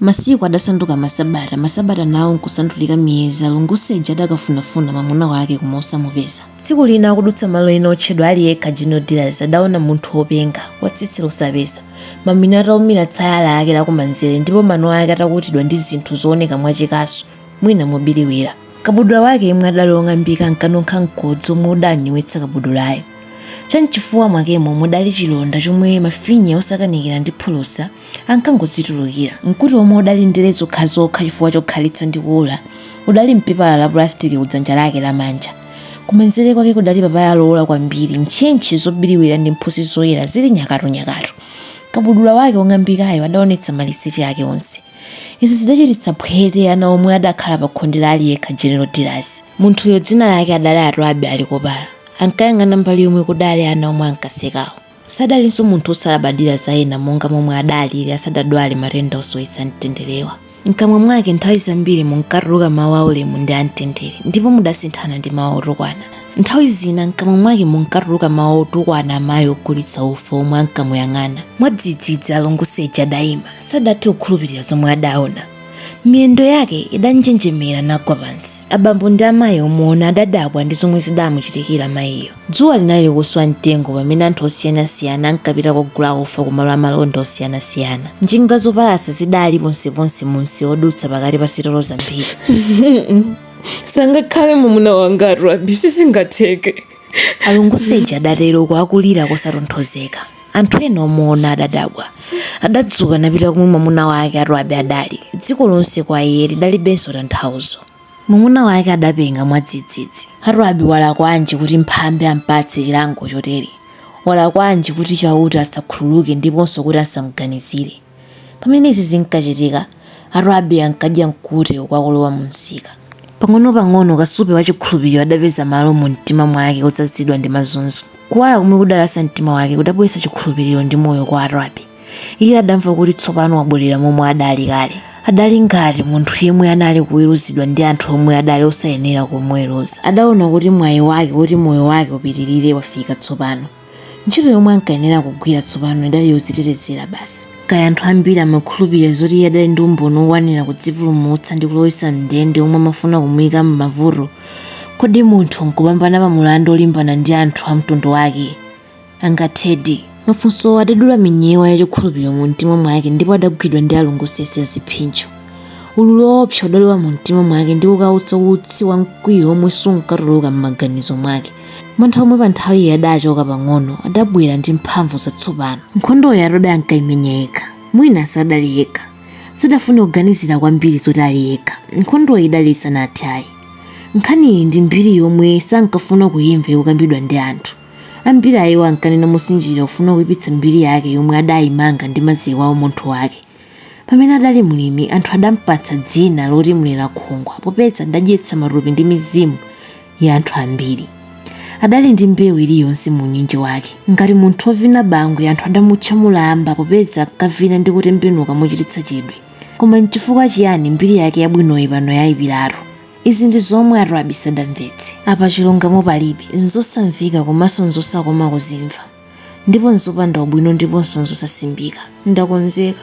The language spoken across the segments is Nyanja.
Masiku adasanduka masabata, masabata nawo nkusandulika miyezi. Alunguseja adakafunafuna mwamuna wake koma osamupeza. Tsiku lina akudutsa malo ena otchedwa Ali Yekha General Dealers adaona munthu wopenga, wa tsitsi losapesa, mamina ataumira tsaya lake lakumanzere ndipo mano ake atakutidwa ndi zinthu zooneka mwachikasu, mwina mobiriwira. Kabudula wake yemwe adali wong'ambika ankanunkha mkodzo womwe udanyowetsa kabudulayo. Cham'chifuwa mwakemo mudali chilonda chomwe mafinya osakanikira ndi phulusa ankangozitulukira. Mkute womwe udali ndere zokhazokha chifukwa chokhalitsa ndi kuwola, udali m'pepala la pulasitiki kudzanja lake lamanja. Kumanzere kwake kudali papaya lowola kwambiri, ntchentche zobiriwira ndi mphutsi zoyera zili nyakatunyakatu. Kabudula wake wong'ambikayo adaonetsa maliseche ake onse. Izi zidachititsa phwete ana omwe adakhala pakhonde la Ali Yekha General Dealers. Munthuyo dzina lake adali Atwabe Alikobala. Ankayang'ana mbali yomwe kudali ana omwe ankasekawo. Sadalinso munthu wosalabadira za ena monga momwe adalili asadadwale matenda osowetsa mtenderewa. Mkamwa mwake nthawi zambiri munkatuluka mawu aulemu ndi amtendere, ndipo mudasinthana ndi mawu otukwana. Nthawi zina mkamwa mwake munkatuluka mawu otukwana amayi ogulitsa ufa omwe ankamuyang'ana. Mwadzidzidzi Alunguseja adaima. Sadathe kukhulupirira zomwe adaona. miyendo yake idanjenjemera nagwa pansi abambo ndi amayi omuona adadabwa ndi zomwe zidamuchitikira mayiyo dzuwa linali likuswa mtengo pamene anthu osiyanasiyana ankapita kogula ufa ku malo amalonda osiyanasiyana njinga zopalasa zidali ponseponse mumsewu odutsa pakati pa sitolo zambiri sangakhale mwamuna wanga atwabe sizingatheke alunguseja adatero uku akulira kosatonthozeka anthu ena omuona adadabwa adadzuka napita komwe mwamuna wake atwabe adali dziko lonse kwa iye lidalibenso tanthauzo mwamuna wake adapenga mwadzidzidzi atwabe walakwanji kuti mphambe ampatse chilango chotere walakwanji kuti chauta asakhululuke ndiponso kuti asamganizire Pamene izi zinkachitika, Atwabe ankadya mkute uku akulowa mu msika. Pang'onopang'ono kasupe wa chikhulupiriro adapeza malo mu mtima mwake odzazidwa ndi mazunzo. Kuwala komwe kudalasa mtima wake kudabweretsa chikhulupiriro ndi moyo kwa Atwabe. Iye adamva kuti tsopano wabwerera momwe adali kale. Adali ngati munthu yemwe anali kuweruzidwa ndi anthu omwe adali osayenera kumuweruza. Adaona kuti mwayi wake kuti moyo wake upitirire wafika tsopano. ntchito yomwe ankayenera kugwira tsopano idali yodzitetezera basi kaya anthu ambiri amakhulupirira zoti iye adali ndi umboni wokwanira kudzipulumutsa ndi kulowetsa mndende omwe amafuna kumuyika m'mavuto kodi munthu nkupambana pa mulandu olimbana ndi anthu a mtundu wake angathedi mafunsowo adadula minyewa ya chikhulupiriro mu mtima mwake ndipo adagwidwa ndi alungusese a ziphinjo ululu woopsa udalowa mu mtima mwake ndi kukautsa utsi wa mkwiyo omwe sunkatuluka m'maganizo mwake mantha omwe pa nthawiyi adaachoka pang'ono adabwera ndi mphamvu zatsopano nkhondoyo atwabi ankaimenya yekha mwina sadali yekha sadafune kuganizira kwambiri zoti ali yekha nkhondoyi idali isanathe ayi nkhaniyi ndi mbiri yomwe sankafuna kuyimva yokambidwa ndi anthu ambiri a iwo ankanena mosinjirira kufuna kuipitsa mbiri yake yomwe adayimanga ndi maziko a umunthu wake pamene adali mlimi anthu adampatsa dzina loti mlerakhungwa popeza adadyetsa matupi ndi mizimu ya anthu ambiri adali ndi mbewu iliyonse mu unyinji wake ngati munthu wovina bangwe anthu adamutcha mulamba popeza ankavina ndi kutembenuka mochititsa chidwi koma nchifukwa chiyani mbiri yake yabwinoyi pano yayipiratu izi ndi zomwe atwabi sadamvetse apa chilungamo palibe nzosamveka komanso nzosakoma kuzimva ndipo nzopanda ubwino ndiponso nzosasimbika ndakonzeka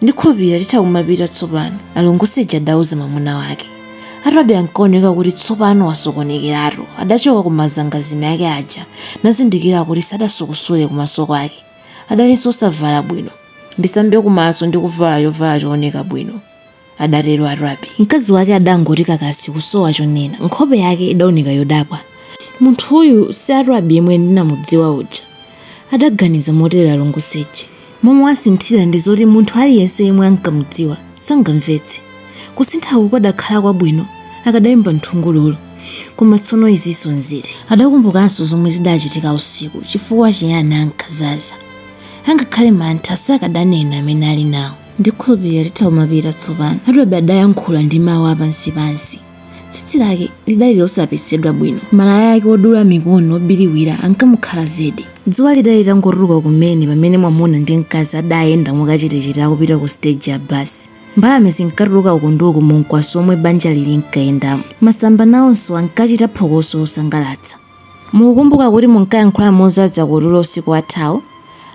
ndikhulupirira titha kumapita tsopano alunguseje adauza mwamuna wake atwabi ankaoneka kuti tsopano wasokonekeratu adachoka ku mazangazime ake aja nazindikira kuti sadasukusule kumaso kwake adalinso osavala bwino ndisambe kumaso ndi kuvala chovala chooneka bwino adatero Atwabi. Mkazi wake adangoti kakasi kusowa chonena. Nkhope yake idaoneka yodabwa. Munthuyu si Atwabi yemwe ndinamudziwa uja? adaganiza motero Alunguseje. Momwe wasinthira ndi zoti munthu aliyense yemwe ankamudziwa sangamvetse. Kusinthaku kukadakhala kwabwino akadaimba nthungululu. Koma tsono izinso nziti? Adakumbukanso zomwe zidachitika usiku. Chifukwa chiyani ankazaza? Angakhale mantha sakadanena amene ali nawo. ndikhulupirira titha kumapita tsopano atwabi adayankhula ndi mawu apansipansi tsitsi lake lidali losapesedwa bwino malaya ake odula mikono obiriwira ankamukhala zedi dzuwa lidali litangotuluka kumene pamene mwamuna ndi mkazi adayenda mwakachetechete akupita ku siteji ya basi mbalame zinkatuluka uku ndi uku mu mkwaso omwe banjali linkayendamo masamba nawonso ankachita phokoso losangalatsa Mukukumbuka kuti munkayankhula mozadza kutulo usiku wathawu?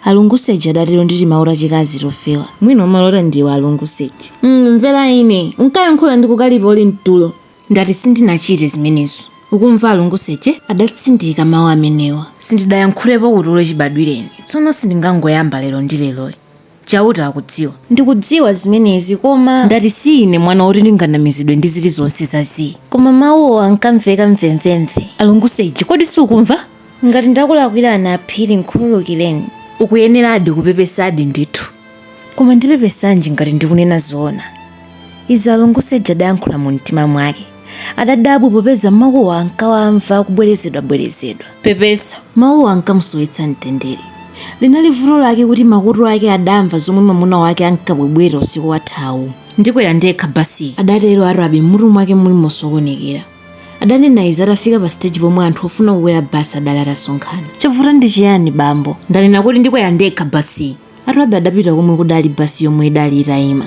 Alunguseje adatero ndi timawu tachikazi tofewa. Mwina umalota ndiwe, Alunguseje. Mm, mvera ine! Unkayankhula ndi kukalipa uli mtulo? Ndati sindinachite zimenezo, ukumva, Alunguseje adatsindika mawu amenewa. Sindidayankhulepo kutulo chibadwireni, tsono sindingangoyamba lero ndi leroyi. Chauta akudziwa. Ndikudziwa zimenezi, koma. Ndati si ine mwana woti ndinganamizidwe ndi zilizonse za zii. Koma mawuwo ankamveka mvemvemve. Alunguseje, kodi sukumva? Ngati ndakulakwirani a Phiri, nkhululukireni. Ukuyeneradi kupepesadi ndithu. Koma ndipepesanji ngati ndikunena zoona? Izi Alunguseje adayankhula mumtima mwake. Adadabwa popeza mawuwo ankawamva akubwerezedwabwerezedwa. Pepesa, Mawuwo ankamusowetsa mtendere. Linali vuto lake kuti makutu ake adamva zomwe mwamuna wake ankabwebweta usiku wathawu. Ndikwera ndekha basiyi, adatero Arabi m'mutu mwake muli mosokonekera. Adanena izi atafika pasiteji pomwe anthu ofuna kukwera basi adali atasonkhana. Chavuta ndi chiyani, bambo? Ndanena kuti ndikwera ndekha basiyi! arabi adapita komwe kudali basi yomwe idali itayima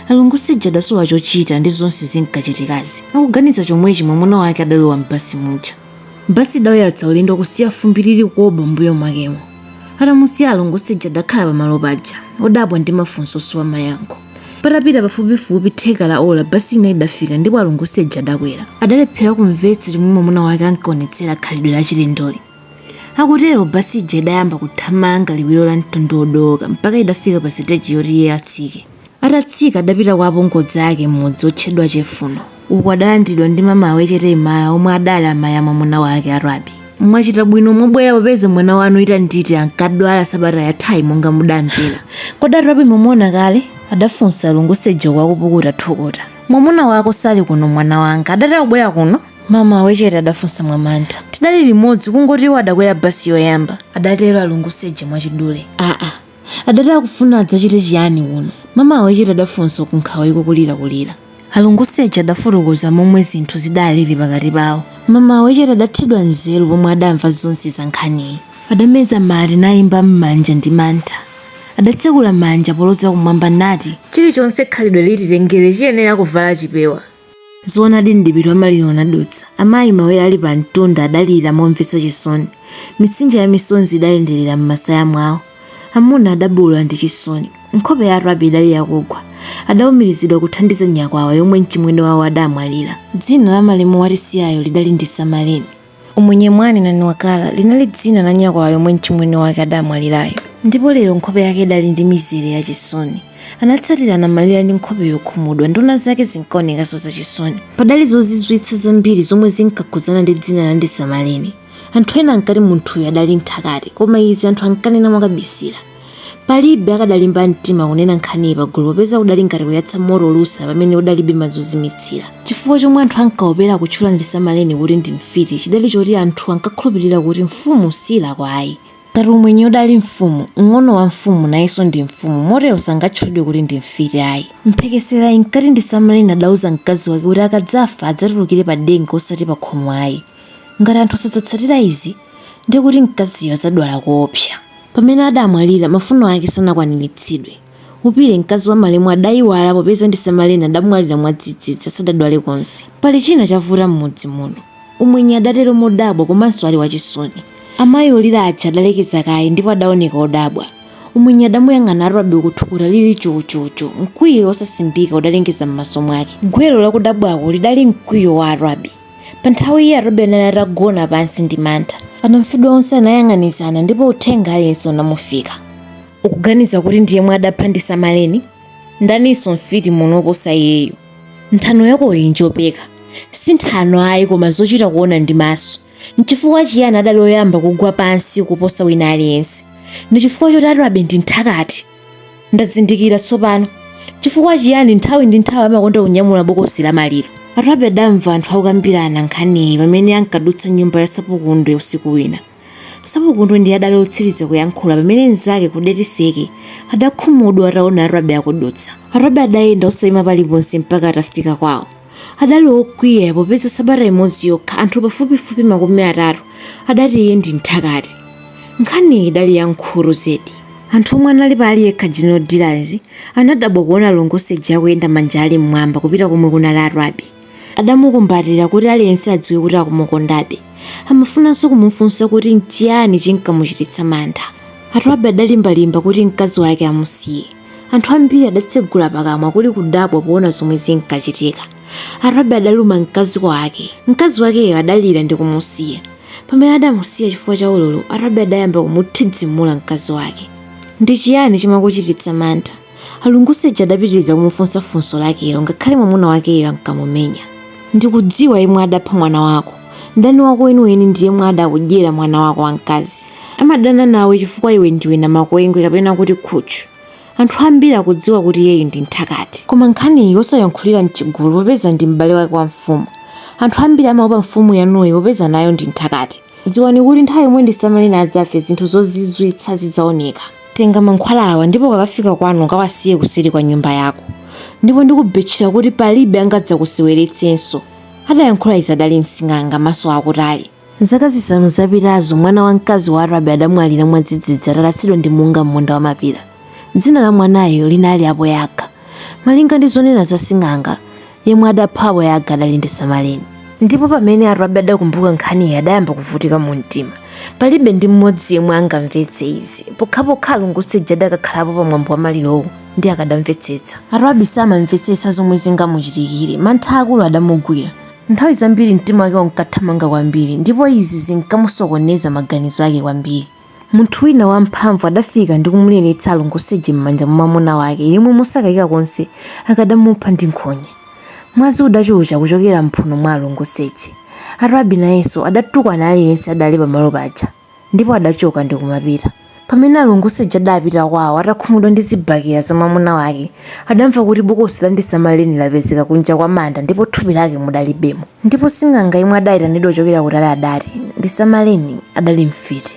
alunguseja adasowa chochita ndi zonse zinkachitikazi akuganiza chomwechi mwamuna wake adalowa m'basi muja basi idauyatsa ulendo kusiya fumbi lili koboo mbuyo mwakemo atamusiya alunguseja adakhala pamalo paja odabwa ndi mafunso osowa mayankho patapita pafupifupi theka la ola basi ina idafika ndipo alunguseja adakwera adalephera kumvetsa chomwe mwamuna wake ankaonetsera khalidwe lachilendoli akutero basi ija idayamba kuthamanga liwiro la mtondo wodooka mpaka idafika pa siteji yoti iye atsike atatsika adapita kwa apongozi ake m'mudzi otchedwa chefuno uku adalandidwa ndi mama awechete imala omwe adali amayi a mwamuna wake arabi mwachita bwino mwabwera popeza mwana wanu itanditi ankadwala sabata yathayi monga mudamvera kodi arabi mwamuona kale adafunsa alunguseja uku akupukuta thukuta mwamuna wako sali kuno mwana wanga adati akubwera kuno mama awechete adafunsa mwamantha tidali limodzi kungoti iwo adakwera basi yoyamba adatero alunguseja mwachidule aa adati akufuna adzachite chiyani kuno mama awechete adafunsa uku nkhawa ikukulirakulira alunguseja adafotokoza momwe zinthu zidalili pakati pawo mama awechete adathedwa nzeru pomwe adamva zonse za nkhaniyi adameza mate nayimba m'manja ndi mantha adatsekula manja poloza kumwamba nati chilichonse khalidwe lititengere chiyenera kuvala chipewa Zoonadi mdipiti wa maliro unadutsa. Amayi mawere ali pa mtunda adalira momvetsa chisoni. Mitsinje ya misonzi idayenderera m'masaya mwawo. Amuna adabuula ndi chisoni. Nkhope ya Arabi idali yakugwa. Adaumirizidwa kuthandiza nyakwawa yomwe mchimwene wawo adamwalira. Dzina la malemu watisiyayo lidali Ndisamaleni. Umwenye Mwanenani Wakala linali dzina la nyakwawa yomwe mchimwene wake adamwalirayo ndipo lero nkhope yake idali ndi mizere ya chisoni. Anatsatira anamalira ndi nkhope yokhumudwa. Nduna zake zinkaonekanso zachisoni. Padali zozizwitsa zambiri zomwe zinkakhudzana ndi dzina la Ndisamaleni. Anthu ena ankati munthuyo adali mthakati koma izi anthu ankanena mwakabisira. Palibe akadalimba mtima kunena nkhaniyi pagulu popeza kudali ngati kuyatsa moto olusa pamene udalibe madzi ozimitsira. Chifukwa chomwe anthu ankaopera kutchula Ndisamaleni kuti ndi mfiti chidali choti anthu ankakhulupirira kuti mfumu siilakwa ayi. Ngati umwenye udali mfumu, mng'ono wa mfumu nayenso ndi mfumu motero sangatchulidwe kuti ndi mfiti ayi. Mphekesera inkati Ndisamaleni adauza mkazi wake kuti akadzafa adzatulukire padenga osati pakhomo ayi. Ngati anthu sadzatsatira izi, ndiye kuti mkaziyo adzadwala koopsa. Pamene adamwalira, mafuno ake sanakwaniritsidwe. Upile, mkazi wa malemu, adaiwala popeza Ndisamaleni adamwalira mwadzidzidzi asadadwale konse. Pali china chavuta m'mudzi muno, Umwenye adatero modabwa komanso ali wachisoni. Amayi olira aja adalekeza kaye ndipo adaoneka odabwa. Umwenye adamuyang'ana Atwabi uku thukuta lili chu-chu-chu. Mkwiyo wosasimbika udalengeza m'maso mwake. Gwero la kudabwako lidali mkwiyo wa Atwabi. Pa nthawiyi Atwabi anali atagona pansi ndi mantha. Anamfedwa onse anayang'anizana ndipo uthenga aliyense unamufika. Ukuganiza kuti ndi yemwe adapha Ndisamaleni? Ndaninso mfiti muno woposa iyeyo? Nthano yakoyi njopeka. Si nthano ayi koma zochita kuona ndi maso. N'chifukwa chiyani adali oyamba kugwa pansi kuposa wina aliyense? Ndi chifukwa choti Atwabi ndi nthakati. Ndazindikira tsopano chifukwa chiyani nthawi ndi nthawi amakonda kunyamula bokosi la maliro. Atwabi adamva anthu akukambirana nkhaniyi pamene ankadutsa nyumba ya Sapukundo usiku wina. Sapukundo ndiye adali otsiriza kuyankhula pamene mnzake Kudetiseke adakhumudwa ataona Atwabi akudutsa. Atwabi adayenda osaima paliponse mpaka atafika kwawo. adali okwiya popeza sabata imodzi yokha anthu pafupifupi makumi atatu adati iye ndi mthakati nkhaniyi idali ya nkhuru zedi anthu omwe anali pa aliyekha general dealers anadabwa kuona alunguseja akuyenda manja ali mmwamba kupita komwe kunali atwabi adamukumbatira kuti aliyense adziwe kuti akumukondabe amafunanso kumufunsa kuti nchiyani chinkamuchititsa mantha atwabi adalimbalimba kuti mkazi wake amusiye anthu ambiri adatsegula pakamwa kuli kudabwa poona zomwe zinkachitika atwabi adaluma mkazi wake mkazi wakeyo adalira ndi kumusiya pamene adamusiya chifukwa cha ululu atwabi adayamba kumuthidzimula mkazi wake ndi chiyani chimakuchititsa mantha alunguseja adapitiriza kumufunsa funso lakelo ngakhale mwamuna wakeyo ankamumenya ndikudziwa yemwe adapha mwana wako mdani wako weniweni ndi yemwe adakudyera mwana wako wamkazi Amadana nawe chifukwa iwe ndiwe namakwengwe kapena kuti khutchu. Anthu ambiri akudziwa kuti iyeyu ndi mthakati. Koma nkhaniyi osayankhulira m'chigulu popeza ndi m'bale wake wa mfumu. Anthu ambiri amaopa mfumu yanuyi popeza nayo ndi mthakati. Dziwani kuti nthawi yomwe Ndisamaleni adzafe zinthu zozizwitsa zidzaoneka. Tenga mankhwala awa ndipo ukakafika kwanu ukawasiye kuseri kwa nyumba yako. Ndipo ndikubetchera kuti palibe angadzakuseweretsenso. Adayankhula izi adali msing'anga maso akutali. Zaka zisanu zapitazo, mwana wamkazi wa Atwabi adamwalira mwadzidzidzi atalasidwa ndi munga m'munda wa mapira. Dzina la mwanayo linali Aboyaka. Malinga ndi zonena za sing'anga, yemwe adapha Aboyaka adali Ndisamaleni. Ndipo pamene Atwabi adakumbuka nkhaniyi adayamba kuvutika mu mtima. Palibe ndi mmodzi yemwe angamvetse izi, pokhapokha Alunguseja adakakhalapo pa mwambo wa malirowo ndi akadamvetsetsa. Atwabi samamvetsetsa zomwe zingamuchitikire, mantha akulu adamugwira. Nthawi zambiri mtima wake unkathamanga kwambiri ndipo izi zinkamusokoneza maganizo ake kwambiri. Munthu wina wamphamvu adafika ndi kumuleretsa a Lungusi aja m'manja mwa mwamuna wake yemwe mosakayika konse akadamupha ndi nkhonya. Mwazi udachucha kuchokera m'mphuno mwa a Lungusi aja. Atibi nayenso adatukwana aliyense adali pamalo paja. Ndipo adachoka ndi kumapita. Pamene a Lungusi aja adapita kwawo atakhumudwa ndi zibakera za mwamuna wake, adamva kuti bokosi la Ndisamaleni lapezeka kunja kwa manda ndipo thupi lake mudalibemo. Ndipo sing'anga yemwe adaitanidwa kuchokera kutali adati, Ndisamaleni adali mfiti.